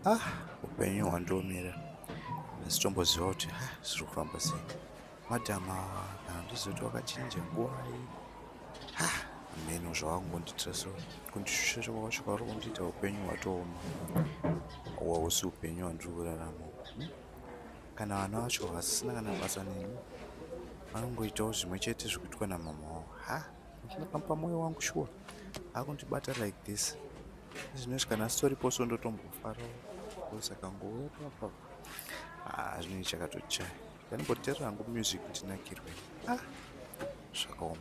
ah upenyu hwandiomera ndisitomboziva kuti ah, zviri kufamba sei madam awa handizoti wakachinja nguvai ha ah, mheno zvawakungondiitira so kundishushira kwakasvika vari kundiita upenyu hwatooma hwausi upenyu hwandiri kurarama hmm? kana vana vacho vasisina kana basa neni vanongoitawo zvimwe chete zvikuitwa namama wavo ha ah. apa moyo wangu shuwa akundibata like this zvinoti kana sitoriposo ndotombofara saka ngouya papa ah, zvinei chakatochaya ndanimbotera hangu music ndinakirwe ah, zvakaoma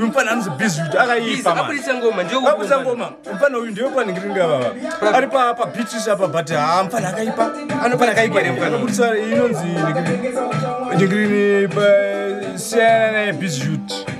mfana anozi busy kuti akaipa abudisa ngoma ndiobudisa ngoma mfana uyu ndiwe panenge ringa baba ari pa pa beaches apa but ha mfana akaipa anofana akaipa ne mfana abudisa inonzi ndingirini pa siyana ne busy youth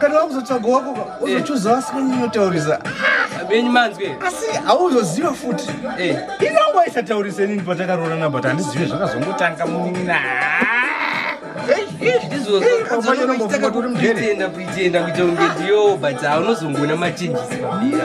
kana wakuzotsvaga wako ka uzochuza vasina munotaurisa venyu manzwe asi hauzoziva futi eh. inongo isataurise nini patakaroorana but handizive zvakazongotanga munina izvozvoaonombofungatirimdere kuita kunge ndiyo but haunozongona machenjisi pamira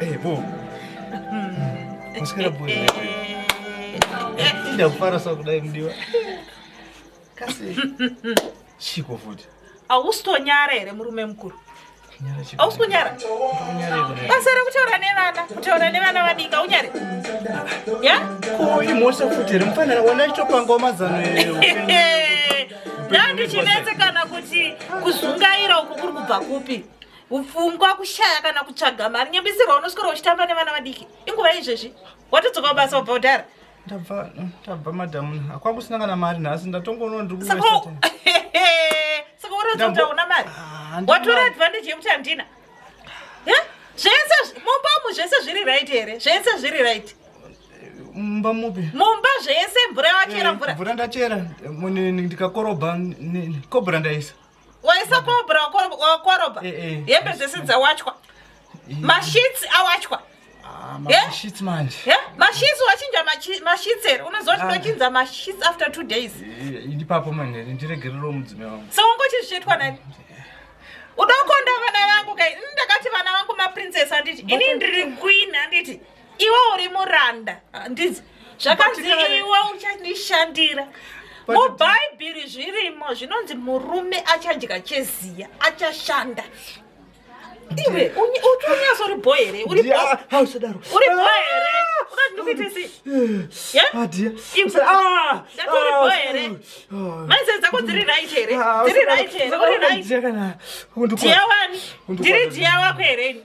Hey, bo. Musikira bo. Ida kufara sa kudai mdiwa. Kasi. Chiko futi. Ausitonyara here murume mukuru? Ausi kunyara? Basa rekutaura nevana, kutaura nevana vadiki, aunyare? Ya? Ko imhosva futi here mufanira wona chitopanga mazano here? Ndandichinetse kana kuti kuzungaira uku kuri kubva kupi? upfungwa kushaya kana kutsvaga mari nyambisirwa unoswera uchitamba nevana vadiki inguva izvezvi watodzoka kubasa wabva udhara ndabva ndabva madam hakwanga kusina kana mari nhasi ndatongoona ndirikusaka uratidza kuti hauna mari ah, watora advantage yekuti handina zvese mumbamu zvese zviri right here zvese zviri right mumba mupi mumba zvese mvura yawachera eh, mvura mvura ndachera ndikakorobha kobra ndaisa waisa kobra wakoroba eh, eh. hembe dzese dzawachwa eh. mashits awachwa ah, mashits manje mashits wachinja mashits here unoziva kuti ah. ndochinza mashits after two days ndipapo manje ndiregerero mudzime wangu so ungochizvichaitwa nani udokonda vana vangu kai ndakati vana vangu maprincess handiti ini ndiri queen handiti iwe uri muranda handizi zvakanzi iwe uchandishandira mubhaibheri zvirimo zvinonzi murume achadya cheziya achashanda iwe unyasori bho here uri bho here maizai dzako dziri right here dziri right here uri right dhiyawani ndiri dhiya wako here ini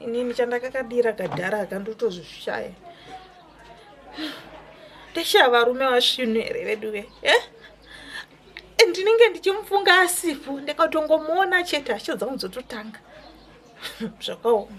inini chandakakadira kadhara akandotozvishaya ndashaya varume vasvinu here vedu ve eh? ndinenge ndichimufunga asipo ndakatongomuona chete hasha dzangu dzototanga zvakaoma